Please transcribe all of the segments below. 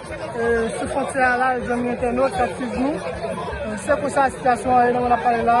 Sou fontyè a la zanmi entènot kap swiv nou, se konsa sitiyasyon an ye nan mwen ap pale la.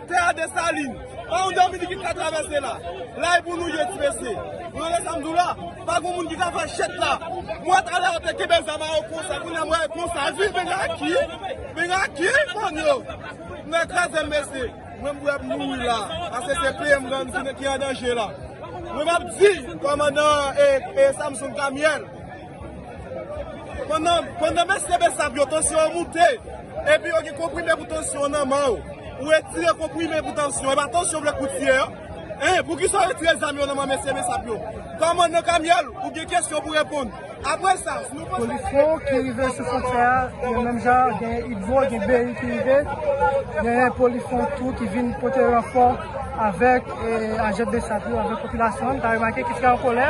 Tè a Desalin, pa yon Dominikit k ka travèse la. La e pou nou ye, ti mesye. Nou tande sa m di w la? Pa gen moun ki ka fè chèt la. Mwen t ale atè kenbe zam a yo konsa, kounye a mwen wè konsa. Di m vini aki, vini aki, bann yo. M nan kraze m, mesye. Mwen m wè m mouri la. Pase se peyi m nan, m di men ki an danje la. Mwen m ap di, kòmandan Samson Camille. Pandan mesye besap yo tansyon an moute epi yo gen konprime pou tansyon an nan men yo, ou retire konprime pou tansyon, epa tansyon vle kout ye an? Hein poukisa ou retire zam yo nan men mesye besap yo? Kòmandan Kamyèl ou gen kesyon pou reponn. Aprè sa si nou panse gen Polisye ki rive sou fontyè a, yo menm jan gen Idbo, gen BI ki rive, genyen polisye tou ki vin pote ranfò avèk ajan besap yo, avèk popilasyon an, nou ka remake ki fè an kolè.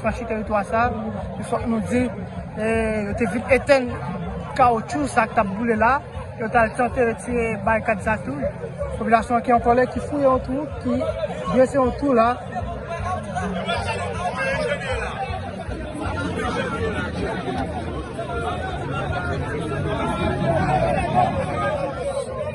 Franchi teritwa sa, e fòk nou di, yo te vin etenn kawotchou sa k t ap boule la, yo t al tante retire barikad sa tou. Popilasyon an ki an kòlè, ki fouye yon twou, ki drese yon twou la.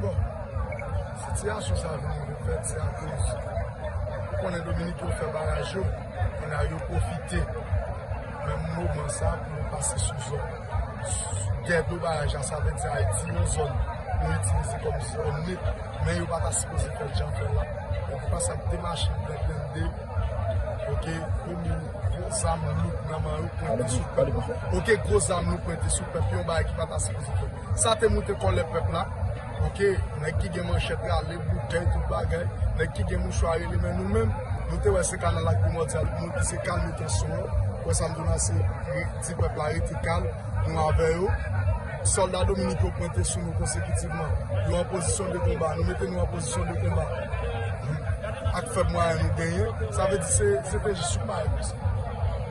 Bon, sitiyasyon sa vin ouvè ti akoz ou konnen Dominik yo fè baraj yo, kounye a yo pwofite menm moman sa pou yo pase sou zòn dè do baraj la, sa vle di Ayiti yon zòn yo itilize kòm zòn nip, men yo pa ta sipoze fè l jan yo fè l la. Donk se pa sa ki te mache an 2022, kote yon mil gwo zam lou nan man yo pwente sou pèp, kote gwo zam lou pwente sou pèp, yon bagay ki pa ta sipoze fèt. Sa te moute kòlè pèp la. Ok, nèg ki gen manchèt rale, boutèy, tout bagay, nèg ki gen mouchwa rele men nou menm, nou te wè se kanal ak primòdyal nou di se kalme tansyon yo, wè sa m di w la se di pèp la rete kalm, nou avè yo. Sòlda Dominik yo pwente sou nou konsekitivman. Yo an pozisyon de konba, nou mete nou an pozisyon de konba ak fèb mwayen nou genyen. Sa vle di se te jis yon bagay konsa.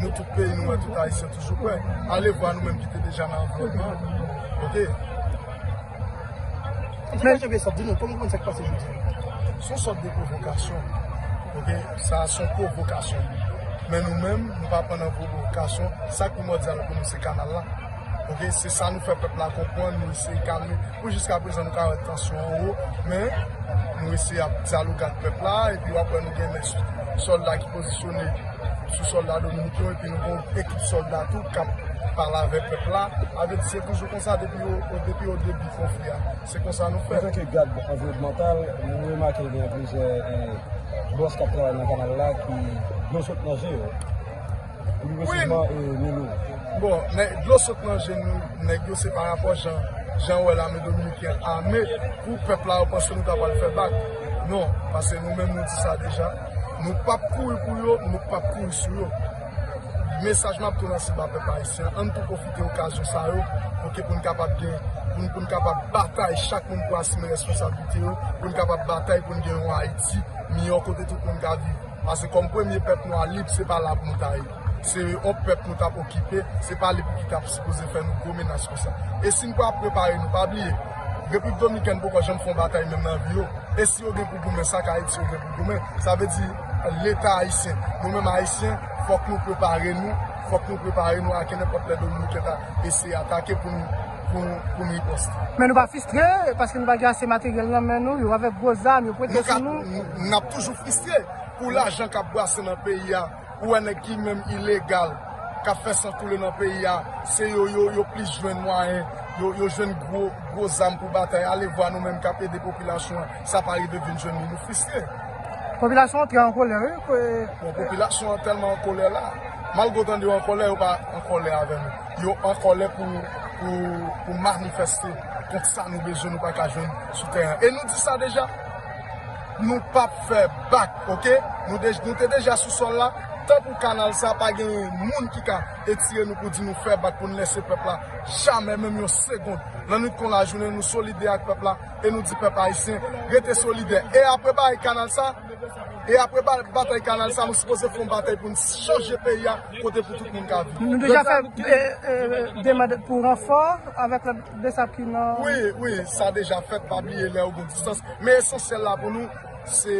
Nou tout peyi nou an tout ayisyen toujou prè ale vwa nou menm ki te deja nan anviwònman an ok. Ti mesye janvier sòt di nou kòman ou konn sa ki pase jodi a. Son sòt de pwovokasyon ok sa a son pwovokasyon men nou menm nou pa pran nan pwovokasyon sa ki primòdyal pou nou se kanal la ok se sa nou fè pèp la konprann nou eseye kalme pou jiska prezan nou ka wè tansyon an wo men nou eseye ap dyaloge ak pèp la epi w ap wè nou gen men sòlda ki pozisyonnen. sou solda dominik yo epi nou gen yon ekip solda tou kap pale avèk pèp la avèk se toujou konsa depi yo depi yo debi konfli a se konsa nou fè. Antake gad anviwònmantal nou remake gen plizyè bòs kap travay nan kanal la ki dlo sot nan je yo pi resèman milou bon men dlo sot nan je nou nèg yo se pa rapò jan jan wè lame dominikèn ame pou pèp la yo panse nou ta pral fè bak non pase nou menm nou di sa deja. Nou pap kouri pou yo, nou pap kouri sou yo. Mesaj map tou lanse ba pèp ayisyen, ann tou pwofite okazyon sa yo pou ke pou n kapab gen, pou n kapab batay chak moun pou asime responsablite yo, pou n kapab batay pou n gen yon Ayiti miyò kote tout moun ka viv. Pase kòm premye pèp nwa lib, se pa la pou nou ta ye. Se yon pèp nou tap okipe, se pa li pou ki tap sipoze fè nou gwo menas konsa. E si nou pa prepare nou, pa bliye, Repiblik Dominikèn poko janm fè yon batay menm nan vi yo. E si yo gen pou goumen, sa k Ayiti yo gen pou goumen. Sa vle di Leta Ayisyen, nou menm Ayisyen, fòk nou prepare nou, fòk nou prepare nou a kenenpòt lè Dominikèn ta eseye atake pou nou riposte. Men nou pa fistre, paske nou pa gen ase materyèl nan men nou, yo avèk gwo zam, yo pwente sou nou. Nap toujou fistre pou lajan kap brase nan peyi a. Ou wè nèg ki menm ilegal kap fè san koule nan peyi a se yo yo plis jwenn mwayen yo jwenn gwo zam pou batay alevwa nou menm kap ede popilasyon an sa pa rive vin jwenn nou nou fristre. Popilasyon an trè an kolè wi pou. Bon popilasyon an tèlman an kolè la malgre w tande yo an kolè yo pa an kolè avè nou yo an kolè pou manifeste kont sa nou bezwen nou pa ka jwenn sou tèren e nou di sa deja. Nou pap fè bak ok. Nou te deja sou sol la. Tan pou kanal sa pa gen moun ki ka etire nou pou di nou fè bak pou nou lese pèp la. Jamè menm yon segond. Lannwit kon lajounen nou solidè ak pèp la e nou di pèp ayisyen rete solidè. E apre bay kanal sa, e apre batay kanal sa nou sipoze fè yon batay pou nou chanje peyi a kote pou tout moun ka viv. Nou deja fè demand pou ranfò avèk lòt. de sa ki nan. Wi, wi, sa deja fèt, pa bliye lè ou gen distans. Men esansyèl la pou nou, se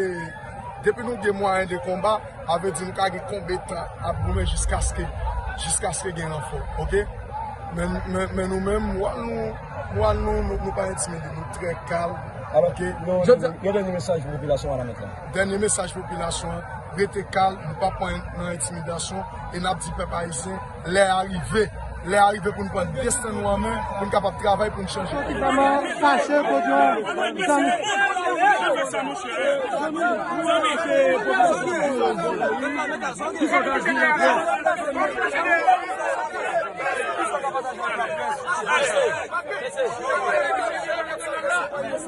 depi nou gen mwayen de konba, a vle di nou ka gen konbetan ap goumen jiskaske, jiskaske gen ranfò. Ok? Men, men, men nou menm, mwa nou, mwa nou, nou pa entimide, nou trè kalm. Alò ke, non, yon dènye mesaj pou popilasyon an la mèt la. Dènye mesaj pou popilasyon an, rete kalm, nou pa pran nan entimidasyon, e n ap di pèp ayisyen. Lè a rive, lè a rive pou n pran desten nou an men, pou n kapab travay pou n chanje peyi a.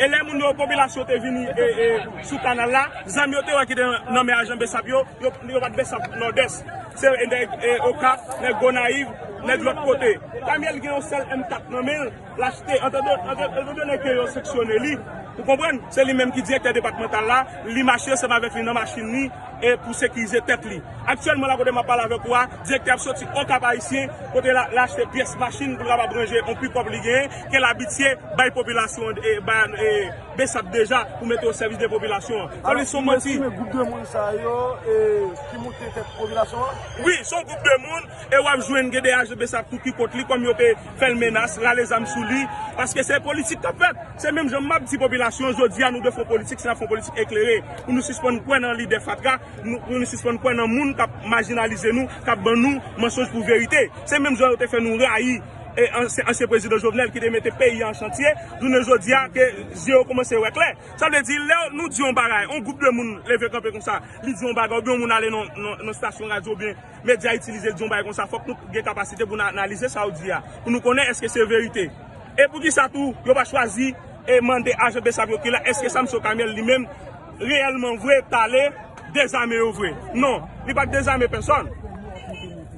E lè moun yo, popilasyon te vini sou kanal la, zam yo te wè ki te nan men ajan bsap yo, yo bat bsap Nòdès. Se nèg Okap, nèg Gonayiv, nèg lòt kote. Pami l gen yon sèl M4 nan men l, l achte antadone ke yo seksyone li. Ou konprann? Se li menm ki direktè depatmantal la, li mache seman avèk li nan machin li. e pou sekirize tèt li. Aktyèlman la kote map pale avèk ou a, direktè ap soti Okap Ayisyen kote la achte pyès machin pou l kapab ranje yon pikòp li genyen ke l abitye bay popilasyon an e bay bsap deja pou mete o sèvis de popilasyon an. Sa vle di se yon manti. Alò, si m estime gwoup de moun sa yo e ki moute tèt popilasyon an? Wi, se yon gwoup de moun. E wap jwenn gen de ajan bsap tou ki kont li kòm yo te fèl menas, rale zam sou li, paske se politik kap fèt. Se menm jan map di popilasyon jodi a nou dwe fè yon politik si nap fè yon politik eklere pou nou sispann kwè nan lide fatra, pou nou sispann kwè nan moun kap majinalize nou, kap ban nou mansonj pou verite. Se menm jan yo te fè nou rayi ansyen prezidan Jovenel ki te mete peyi an chantye, jounen jodi a ke zye yo koumanse wè klè. Sa vle di lè nou di yon bagay, yon gwoup de moun leve kanpe konsa, li di yon bagay oubyen yon moun ale nan stasyon radyo oubyen Medya itilize di yon bagay konsa fòk nou gen kapasite pou nou analize sa ou di a, pou nou konnen èske se verite. E poukisa tou yo pa chwazi e mande ajan bsap yo ki la èske Samson Camille li menm reyèlman vre tale dezame yo vre? Non, li pat dezame pèsòn.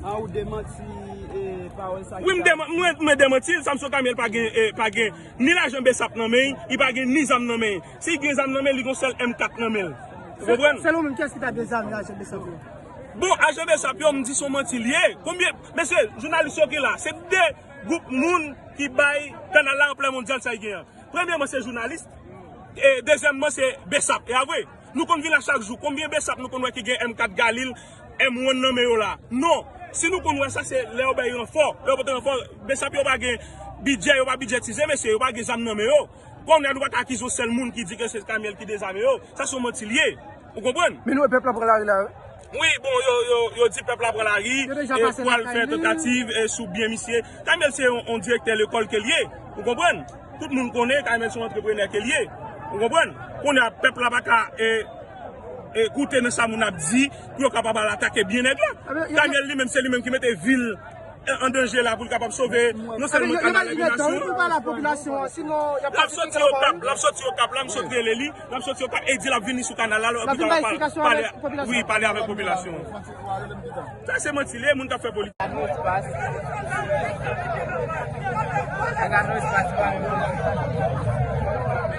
A ou demanti e pawòl sa ki Wi m pale? deman, mwen mwen demanti l, Samson Camille pa gen e pa gen ni lajan bsap nan men, li pa gen ni zam nan men. Si gen zam nan men li gen yon sèl M4 nan men l. Ou konprann? Selon ou menm kiyès ki ta dezame ajan bsap yo? Bon ajan besap yo m di son manti li ye konbyen mesye jounalis yo ki la se 2 group moun ki bay kanal la anplè mondyal sa li gen an premyeman se jounalis e dezyèmman se besap e avwe nou konn vin la chak jou konbyen besap nou konn wè ki gen MK galil M1 nan men yo la non si nou konn wè sa se lè yo bay ranfò lè yo pote ranfò besap yo pa gen bidjè yo pa bidjètize mesye yo pa gen zam nan men yo. Kòm la nou pa ka akize yon sèl moun ki di ke se Kamyèl ki dezame yo, sa se yon manti li ye. Ou konprann? Men nou wè pèp la pran lari la wi. Wi, bon yo di pèp la pran lari, yo pwal fè tantativ sou byen misye. Kamyèl se yon direktè lekòl ke li ye. Ou konprann? Tout moun konnen Kamyèl se yon antreprenè ke li ye. Ou konprann? Kounye a pèp la pa ka koute nan sa moun ap di pou yo kapab al atake byen nèg la. Kamyèl li menm se li menm ki mete vil. an danje la pou l kapab sove non sèlman kanal eliminasyon an. L ap soti Okap, l ap soti Okap la, m sot rele li, l ap soti Okap e di l ap vini sou kanal la. L ap vin bay eksplikasyon avèk popilasyon an. Wi, pale avèk popilasyon an. Sa se manti li e, moun k ap fè politik. Gad mot pas. Gad mot pas pa moun.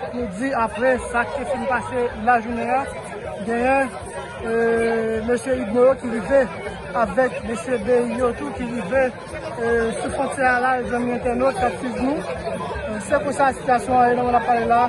Fòk nou di aprè sa ki te fin pase lajounen an, genyen mesye Udmo yo ki rive avèk mesye Bey yo tou ki rive sou fontyè a la, zanmi entènot k ap swiv nou. Se konsa sitiyasyon an ye nan mwen ap pale la a.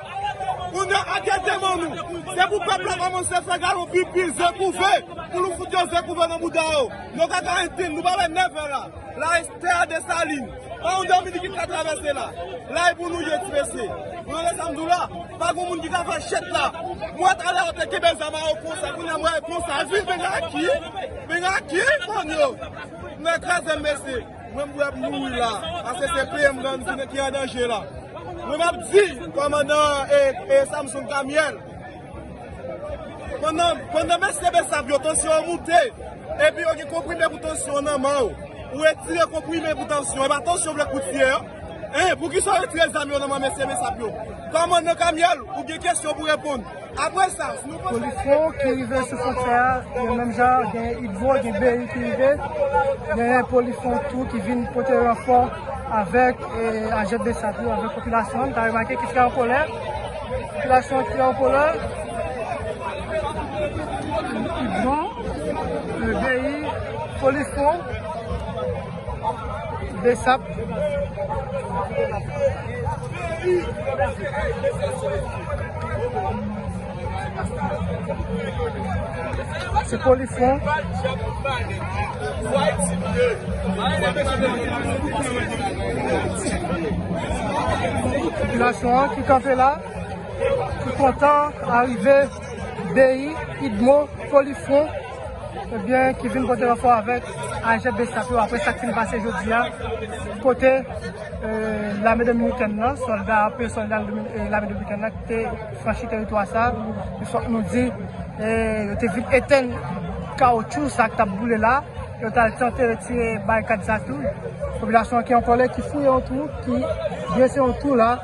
Kounye a gen deman nou. Se pou pèp la kòmanse fè galon pipi, ze kouve, pou nou fout yo ze kouve nan bouda yo. Nou ka garanti n, nou pa wè 9 an la. La e tè a Desalin. Pa yon Dominiken ki ka travèse la. La e pou nou ye ti mesye. Ou tande sa m di w la? Pa gen moun ki ka fè chet la. M wè talè yo te kenbe zam a yo konsa, kounye a m wè yo konsa. Viv Peng Aki! Peng Aki! Bann yo! Nou kraze m mesye. Mwen m prè pou m mouri la, paske se peyi m nan ki an danje la. Mwen m ap di kòmandan Samson Camille, pandan mesye Bsap yo tansyon an moute, epi yo gen konprime pou tansyon an nan men w, ou retire konprime pou tansyon an, e pa tansyon vle koutiye an, poukisa ou retire zam yo nan men mesye Bsap yo? Kòmandan Camille, ou gen kesyon pou reponn. Polis yo ki rive sou fontyè a, yo menm jan gen idbo, gen BRI ki rive, gen polis yo tou ki vin pote ranfò avèk ajèt bsap yo, avèk popilasyon an, nou ka remake ki trè an kolè, popilasyon an trè an kolè, idbo, BRI, polis yo. Besap Se polisye Popilasyon an ki kanpe la ki kontan arive BI idmo polisye. ebyen ki vin pote ranfò avèk ajè bsap yo aprè sak fin pase jodi a kote lame dominikèn nan sòlda anpe sòlda lame dominikèn nan ki te franchi teritwa sa e fòk nou di yo te vin etèn kawoutchou sa ki tap boule la yo tal tante retire barikad sa tou popilasyon an ki an kòlè ki fouye yon twou ki drese yon twou la.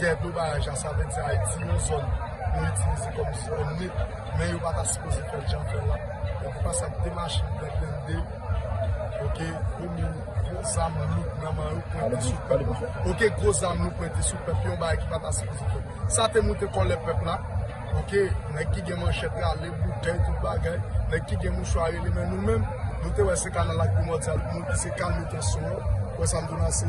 Dè dlo baraj la, sa vle di Ayiti, yon zòn yo itilize kòm zòn nip, men yo pa ta sipoze fè l jan yo fè l la. Donk, fas ak 2 machin blan blende, oke, gwo moun, gwo zam louk nan man yo pwente sou pèp la. Oke, gwo zam louk pwente sou pèp, yon bagay ki pa ta sipoze fèt. Sa te moute kòlè pèp la, oke, nèg ki gen manchèt rale, boutèy, tout bagay, nèg ki gen mouchwa rele. Men nou menm, nou te wè se kanal ak primòdyal pou nou pise kalme tansyon an. Ou wè sa m di w la, se.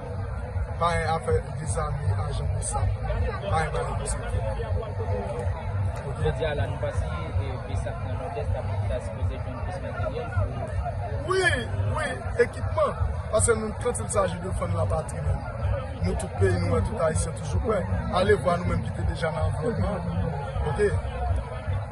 Bay afè dezame ajan bsap bay bay bsap. Jodi a la nou pa si bsap nan nòdès ta sipoze jwenn plis materyèl pou. Wi, wi, ekipman. Pase nou kant il saji de fann la patri nou. Nou tout peyi nou an, tout ayisyen toujou prè. Ale vwa nou menm ki te deja nan anvlòpman. Ok.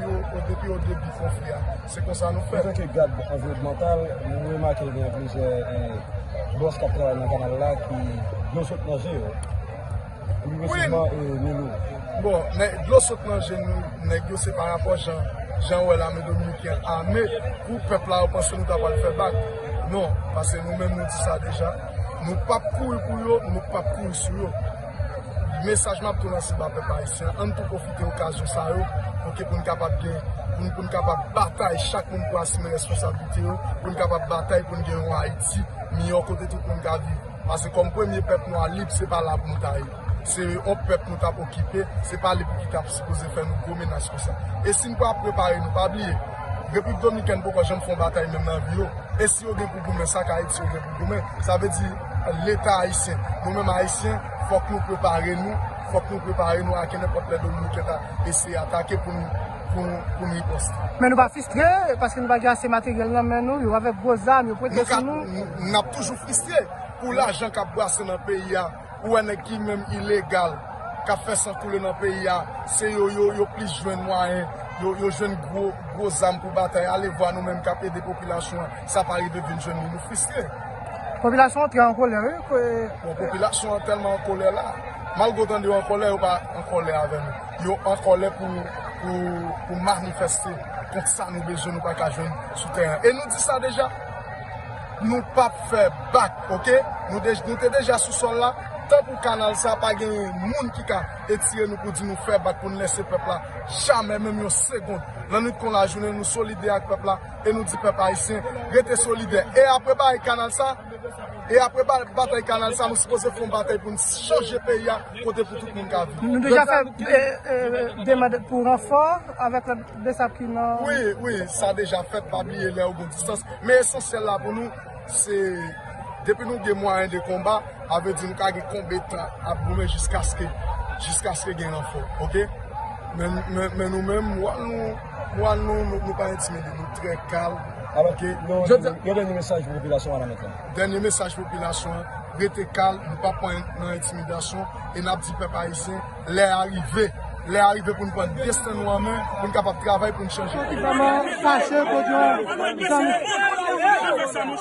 Depi yo de pi fon fè a, se konsa nou fè. An tanke gad anviwònmantal, nou remake gen plizyè bòs k ap travay nan kanal la ki dlo sot nan je yo. Pi resantman e Milou. Bon, men dlo sot nan je nou nèg yo se pa rapò jan jan wè lame dominiken ame pou pèp la yo panse nou ta pral fè bak. Non, pase nou menm nou di sa deja. Nou pap kouri pou yo, nou pap kouri sou yo. Mesaj map tou lanse ba pèp ayisyen ann tou pwofite okazyon sa yo ok poun kapab gen poun kapab batay chak moun pou asime responsablite yo poun kapab batay poun gen yon ayiti miyò kote tout moun ka viv pase kòm premye pèp nwa lib se pa la poun ta ye se yon pèp nou tap okipe se pa li pou ki tap sipoze fè nou gwo menas konsa e sin pa prepare nou pa bliye repiblik dominikèn poko janm fè yon batay menm nan vi yo e si yo gen pou goumen sa ka ayiti yo gen pou goumen sa vle di. Leta Ayisyen. Nou menm Ayisyen, fòk nou prepare nou, fòk nou prepare nou a kenenpòt lè Dominikèn ta eseye atake pou nou riposte. Men nou pa fistre, paske nou pa gen ase materyèl nan men nou, yo avèk gwo zam, yo pote sou nou. N ap toujou fristre pou lajan k ap brase nan peyi a, ou wè nèg ki menm ilegal, k ap fè san koule nan peyi a, se yo yo plis jwenn mwayen, yo jwenn gwo zam pou batay, alevwa nou menm k ap ede popilasyon an. Sa pa rive vin jwenn nou nou fristre. Popilasyon an trè an kolè wi pou. Bon popilasyon an tèlman an kolè la. Malgre w tande yo an kolè yo pa an kolè avè nou. Yo an kolè pou manifeste kont sa nou bezwen nou pa ka jwenn sou tè an. E nou di sa deja nou pap fè bak ok. Nou te deja sou sòl la tan pou kanal sa pa gen moun ki ka etire nou pou di nou fè bak pou nou lese pèp la jamè menm yon segond. Lannwit kon lajounen nou solidè ak pèp la. E nou di pèp ayisyen rete solidè. E apre batay kanal sa, e apre batay kanal sa nou sipoze fè yon batay pou n chanje peyi a kote pou tout moun ka viv. Nou deja fè demand pou ranfò avèk lòt besap ki nan. Wi, wi, sa deja fèt pa bliye lè ou gon distans. Men esansyèl la pou nou se depi nou gen mwayen de konba, a vle di nou ka gen konbetan ap goumen jiskaske jiskaske gen ranfò. Ok? Men nou menm wòl nou. Moral nou, nou pa entimide, nou trè kalm. Alò ke, yon dènye mesaj pou popilasyon an la mèt la? Dènye mesaj pou popilasyon an, rete kalm, nou pa pran nan entimidasyon, e n ap di pèp ayisyen, lè a rive, lè a rive pou n pran desten nou an men, pou n kapab travay, pou n chanje peyi a.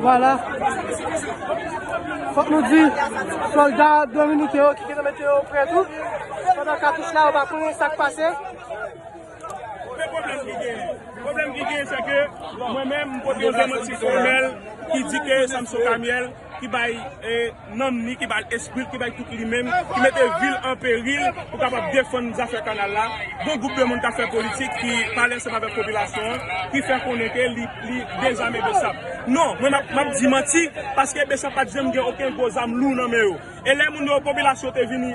Vwala, fòk nou di, solda dominiken yo ki gen nan mete yo pre tou, pandan katouch la yo pa konnen sa k pase. Mwen pwoblèm ki gen, pwoblèm ki gen se ke mwen menm mwen pote yon demanti fòmèl ki di ke Samson Kamièl. ki bay nanm ni, ki ba l espri l, ki bay tout li menm, ki mete vi l an peril pou kapab defann zafè kanal la, gon gwoup de moun k ap fè politik ki pale ansanm avèk popilasyon an, ki fè konnen ke li dezame Bsap. Non, mwen m ap di manti, paske Bsap pa t janm gen oken gwo zam lou nan men yo. E lè moun yo, popilasyon te vini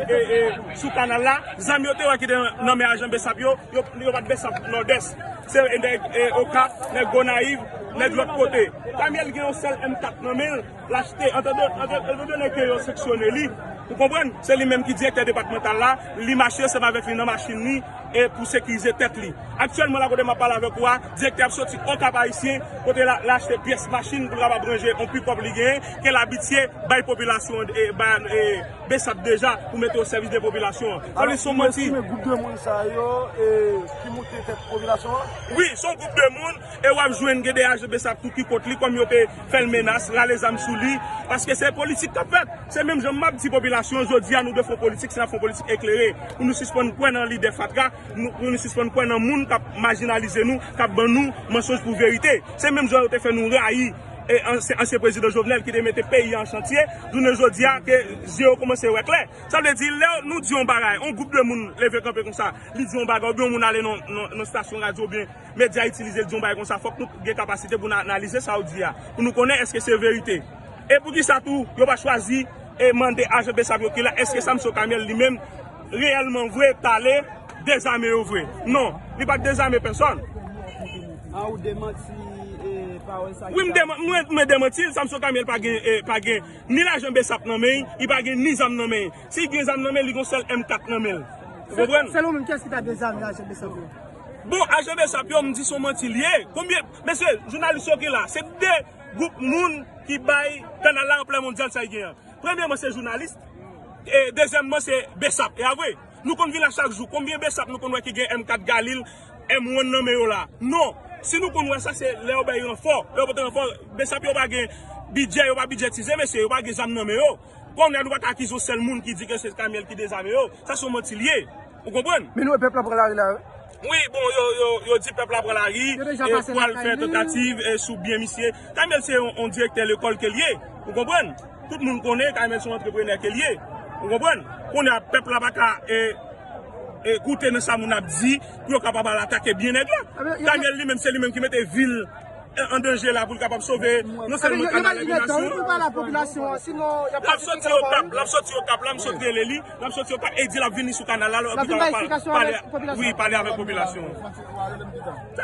sou kanal la, zam yo te wè ki te nan men ajan bsap yo, yo bat bsap Nòdès. Se nèg Okap, nèg Gonayiv, nèg lòt kote. Pami l gen yon sèl M4 nan men l, l achte antandone ke yo seksyone li. Ou konprann? Se li menm ki direktè depatmantal la, li mache se m avèk li nan machin li. e pou sekirize tèt li. Aktyèlman la kote map pale avèk ou a, direktè ap soti Okap Ayisyen kote la achte pyès machin pou l kapab ranje yon pikòp li genyen ke l abitye bay popilasyon an e bay bsap deja pou mete o sèvis de popilasyon an. Sa vle di se yon manti. Alò, ki moun ki estime gwoup de moun sa yo e ki moute tèt popilasyon an? Wi, se yon gwoup de moun E wap jwenn gen de ajan bsap tou ki kont li kòm yo te fèl menas, rale zam sou li, paske se politik kap fèt. Se menm jan map di popilasyon an jodi a nou dwe fon politik si nap fon politik eklere pou nou sispann kwè nan lidè fatra, pou nou sispann kwè nan moun kap majinalize nou, kap ban nou mansonj pou verite. Se menm jan yo te fè nou rayi ansyen prezidan Jovenel ki te mete peyi a an chantye, jounen jodi a ke zye yo koumanse wè klè. Sa vle di lè nou di yon bagay, yon gwoup de moun leve kanpe konsa, li di yon bagay oubyen yon moun ale nan stasyon radyo oubyen. Medya itilize di yon bagay konsa fòk nou gen kapasite pou nou analize sa ou di a, pou nou konnen èske se verite. E poukisa tou yo pa chwazi e mande ajan bsap yo ki la èske Samson Camel li menm reyèlman vre tale dezame yo vre? Non, li pat dezame pèsòn. A ou demanti e pawòl sa ki Wi m pale? deman, mwen mwen demanti l, Samson Camel pa gen e pa gen ni lajan bsap nan men, li pa gen ni zam nan men. Si gen zam nan men li gen yon sèl M4 nan men l. Ou konprann? Selon ou menm kiyès ki ta dezame ajan bsap yo? Bon ajan besap yo m di son manti li ye konbyen mesye jounalis yo ki la se 2 group moun ki bay kanal la anplè mondyal sa li gen an premyeman se jounalis e dezyèmman se besap e avwe nou konn vin la chak jou konbyen besap nou konn wè ki gen M4 galil M1 nan men yo la non si nou konn wè sa se lè yo bay ranfò lè yo pote ranfò besap yo pa gen bidjè yo pa bidjètize mesye yo pa gen zam nan men yo kounya nou pa ka akize yon sèl moun ki di ke se kamyèl ki dezame yo sa son manti li ye. Ou konprann? Men nou wè pèp la pran lari la wi. Wi bon yo di pèp la pran lari e pwal fè tantativ sou byen misye. Kamel se yon direktè lekòl ke l ye. Ou konprann? Tout moun konnen kamel se yon antreprenè ke l ye. Ou konprann? Kounye a pèp la pa ka koute nan sa moun ap di pou yo kapab al atake byen nèg la. Kamel li menm se li menm ki mete vil. an danje la pou l kapab sove non sèlman kanal eliminasyon l ap soti okap l ap soti okap la m sot rele li l ap soti okap e di l ap vini sou kanal la l ap vin bay eksplikasyon wi pale avèk popilasyon an